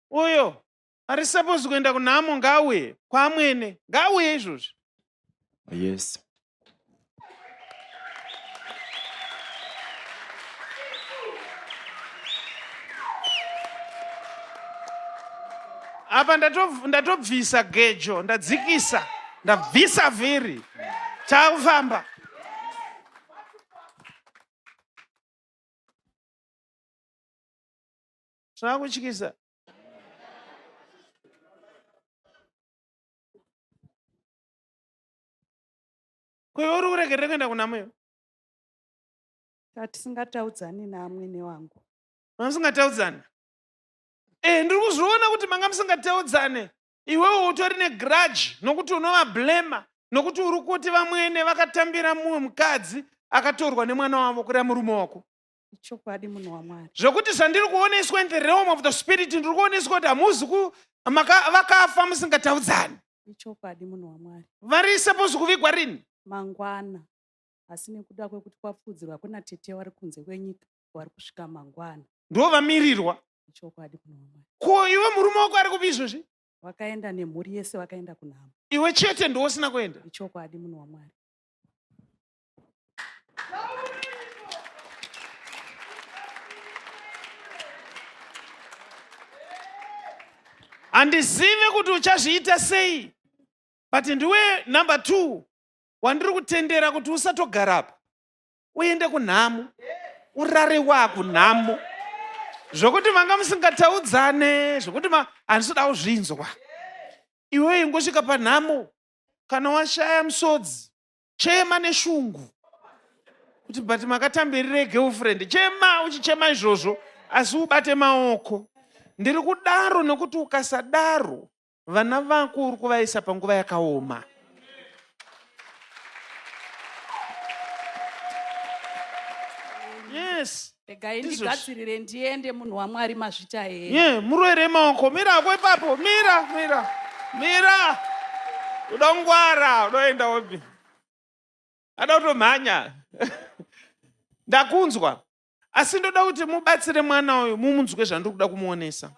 uyo ari supposed kuenda kunhamo ngaauye kwaamwene ngaauye izvozvi yes apa ndatobvisa gejo ndadzikisa ndabvisa vhiri takufamba zvakutyisa kwewe uri kuregerere kuenda kuna mweyo tatisingataaudzani naamwene wangu mamusingataudzani e eh, ndiri kuzviona kuti manga musingataudzane iwewe utori negrudge nokuti unovablema nokuti uri kuti vamwene vakatambira mumwe mukadzi akatorwa nemwana wavo kureva murume wako ichokwadi munhu wamwari zvekuti zvandiri kuoneswa in the realm of the spirit ndiri kuoneswa kuti hamuzi vakafa musingataudzani ichokwadi munhu wamwari vari suppose kuvigwa rini mangwana asi nekuda kwekuti kwapfuudzirwa kuna tete wari kunze kwenyika wari kusvika mangwana ndo vamirirwa ichokwadi munhu wamwari ko iwe murume wako ari kupi izvozvi vakaenda nemhuri yese vakaenda kunhamo iwe chete ndiwosina kuenda ichokwadi munhu wamwari handizive kuti uchazviita sei but ndiwe number two wandiri kutendera kuti usatogarapa uende kunhamo urare wakunhamo zvokuti manga musingataudzane zvokuti handisida kuzvinzwa iwe ingosvika panhamo kana washaya musodzi chema neshungu kuti but makatambirire girlfriend chema uchichema izvozvo asi ubate maoko ndiri kudaro nokuti ukasadaro vana vako uri kuvaisa panguva yakaoma yes regai ndigadzirire ndiende munhu wamwari mazvita here ye murwere maoko mira ako ipapo mira mira mira udongwara unoenda wopi ada kutomhanya ndakunzwa asi ndoda kuti mubatsire mwana uyu mumunzwe zvandiri kuda kumuonesa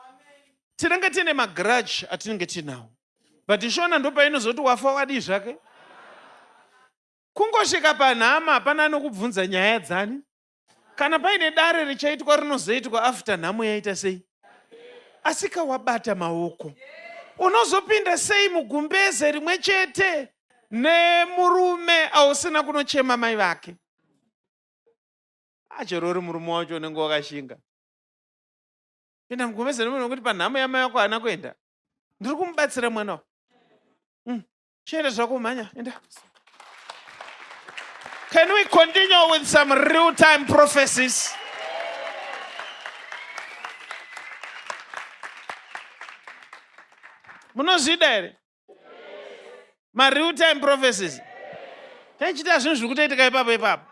tinenge tiine magrudge atinenge tiinawo but ishona ndopainozoti wafa wadii zvake kungosvika panhama hapana anokubvunza nyaya dzani kana paine dare richaitwa rinozoitwa after nhamo yaita sei asika wabata maoko unozopinda sei mugumbeze rimwe chete nemurume ausina kunochema mai vake achorori murume wacho unenge wakashinga pinda mugumbeze nemunhu wekuti panhamo yamai wako haana kuenda ndiri kumubatsira mwana wa mm. chienda zvako mhanya enda can we continue with some real time prophecies munozvida here mareal time prophecies taichiita zvinhu zviri kutoitika ipapo ipapo